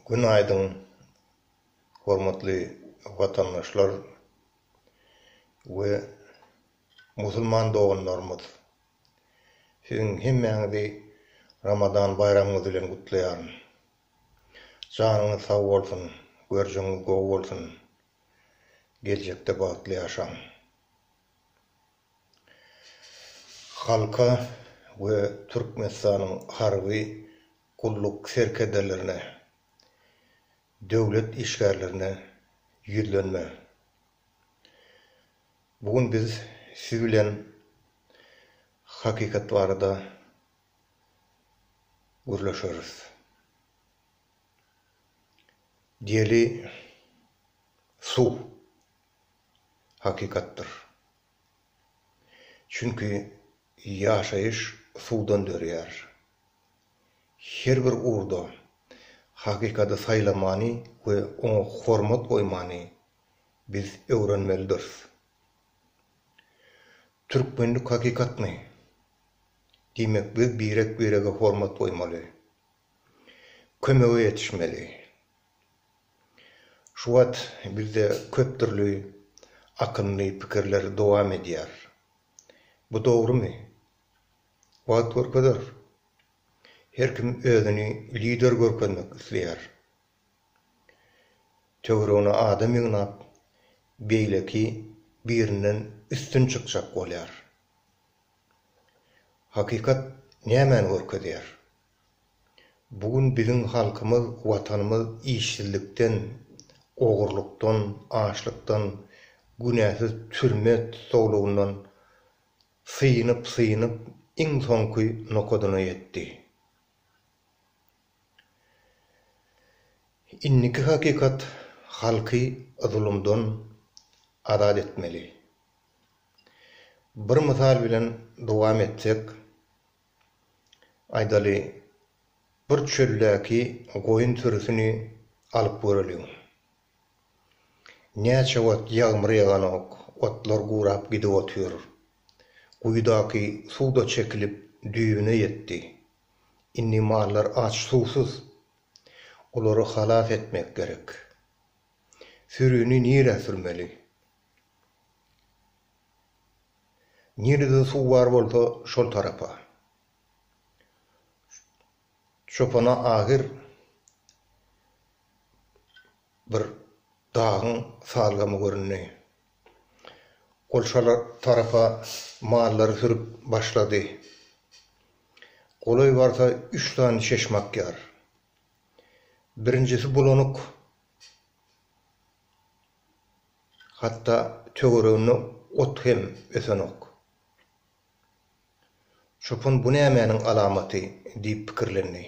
Gün aýdyň hormatly watandaşlar we musulman doganlarymyz. Siziň hemmäňizi Ramadan baýramyňyz bilen gutlaýaryn. Janyňyz sag bolsun, görjeňiz gowy bolsun. Geljekde bagtly ýaşaň. Halka we Türkmenistanyň harby gulluk serkerdelerine, döwlet işgärlerine ýüzlenme. Bu gün biz siz bilen hakykat barada gürleşeris. Diýeli, suw hakykatdyr. Çünki ýaşaýyş suwdan dörýär. Her bir ugurda hakykady saýlamany we oňa hormat goýmany biz öwrenmelidiris. Türkmenlik hakykatmy? Diýmek biz birek-birege hormat goýmaly. Kömege ýetişmeli. Şu wagt bizde köp dürli akymly pikirler dowam edýär. Bu dogrumy? Wagt görkezer. Her kim özüni lider görkezmek isleýär. Töweregine adam ýygnap, beýleki birinden üstün çykjak bolýar. Hakykat nämäni görkezýär? Bu gün biziň halkymyz, Watanymyz işsizlikden, ogurlykdan, açlykdan, günäsiz türme tusaglygyndan synyp-synyp iň soňky nokadyna ýetdi. Indiki hakykat halky zulumdan azat etmeli. Bir mysal bilen dowam etsek, Aýdaly, bir çöldäki goýun sürüsini alyp göreliň. Näçe wagt ýagmyr ýaganok, otlar gurap gidip otyr. Guýudaky suw-da çekilip, düýbüne ýetdi. Indi mallar aç-suwsuz. Olary halas etmek gerek. Sürini nirä sürmeli? Nirede suw bar bolsa şol tarapa. Çopana ahyr bir dagyň salgymy göründi. Ol şol tarapa mallary sürüp başlady. Golaý barsa üç sany çeşme akýar. Birinjisi bulanyk. Hatda töwereginde ot hem ösenok. Çopan bu nämäniň alamaty diýip pikirlendi.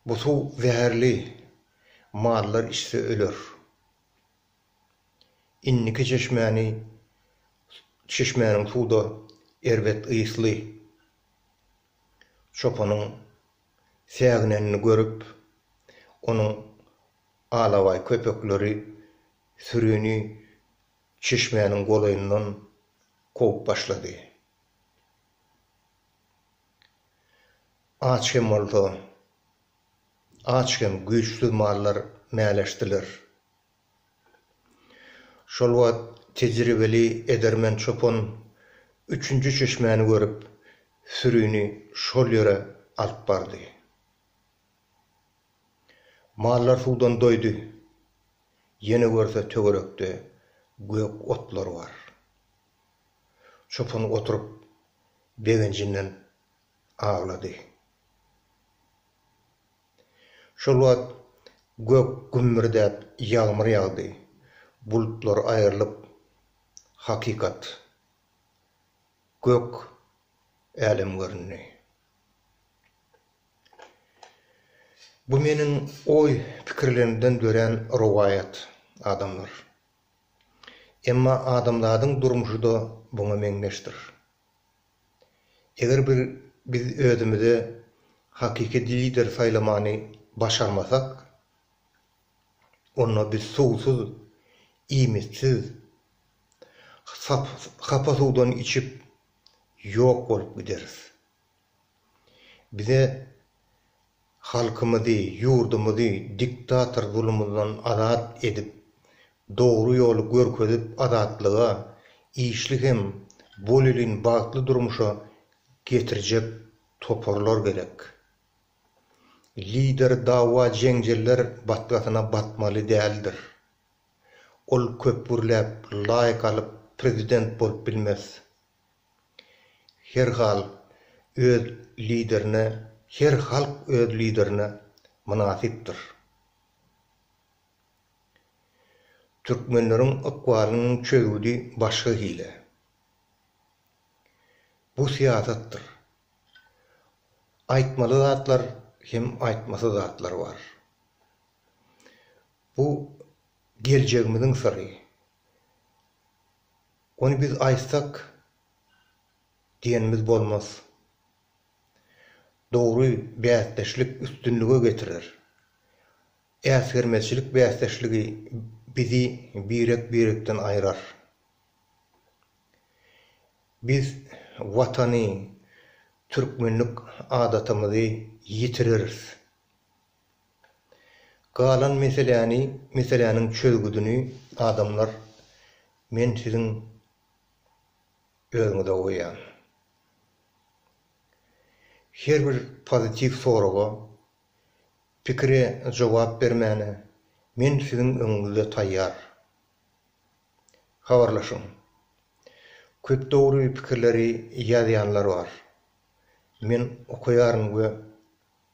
Bu suw zäherli, mallar içse öler. Indiki çeşmäni çeşmäniň suw-da erbet ysly. Çopanyň säginenini görüp, onuň Alabaý köpekleri sürini çeşmäniň golaýyndan kowup başlady. Aç hem bolsa, aç hem güýçsüz mallar mäleşdiler. Şol wagt tejribeli edermen çopan üçünji çeşmäni görüp, sürini şol ýere alyp bardy. Mallar suwdan doýdy. Ýene görse töwerekde gök otlar bar. Çopan oturyp begenjinden aglady. Şol wagt gök gümmürdäp ýagmyr ýagdy. Bulutlar aýrylyp hakykat, gök älem göründi. Bu meniň oý pikirlerimden dörän rowaýat, adamlar. Emma adamzadyň durmuşy-da buňa meňzeşdir. Eger bir biz özümize hakyky lider saýlamany başarmasak, onda biz suwsuz, iýmitsiz, hapa suwdan içip ýok bolup gideris. Bize halkymyzy, ýurdumyzy diktator zulumyndan azat edip, dogry ýoly görkezip azatlyga, işli hem bolelin bagtly durmuşa getirjek toparlar gerek. Lider dawa-jeňjeller batgasyna batmaly däldir. Ol köp gürläp, laýk alyp prezident bolup bilmez. Her hal öz liderine her halk öz liderine mynasypdyr. Türkmenleriň ykbalynyň çözgüdi başga hili. Bu syýasatdyr. Aýtmaly zatlar hem aýtmasy zatlar bar. Bu geljegimiziň syry. Ony biz aýtsak diýenimiz bolmaz. Dogry bäsdeşlik üstünlige getirer. Äsgermezçilik bäsdeşligi bizi birek-birekden aýrar. Biz Watany, türkmenlik adatamyzy ýitireris. Galan meseläni, meseläniň çözgüdini adamlar men siziň özüňize goýýan. Her bir pozitiw soraga, pikire jogap bermäne men siziň öňüňizde taýýar. Habarlaşyň. Köp dogry pikirleri ýazýanlar bar. Men okaýaryn we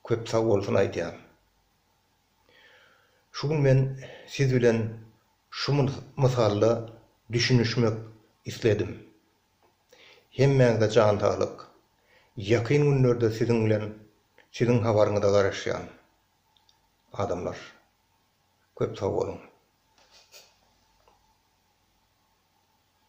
Köp sag bolsun aýdýan. Şu gün men siz bilen şu mysalda düşünişmek isledim. Hemmäňize jan saglyk. Ýakyn günlerde siziň bilen siziň habaryňyza garaşýan. Adamlar. Köp sag boluň.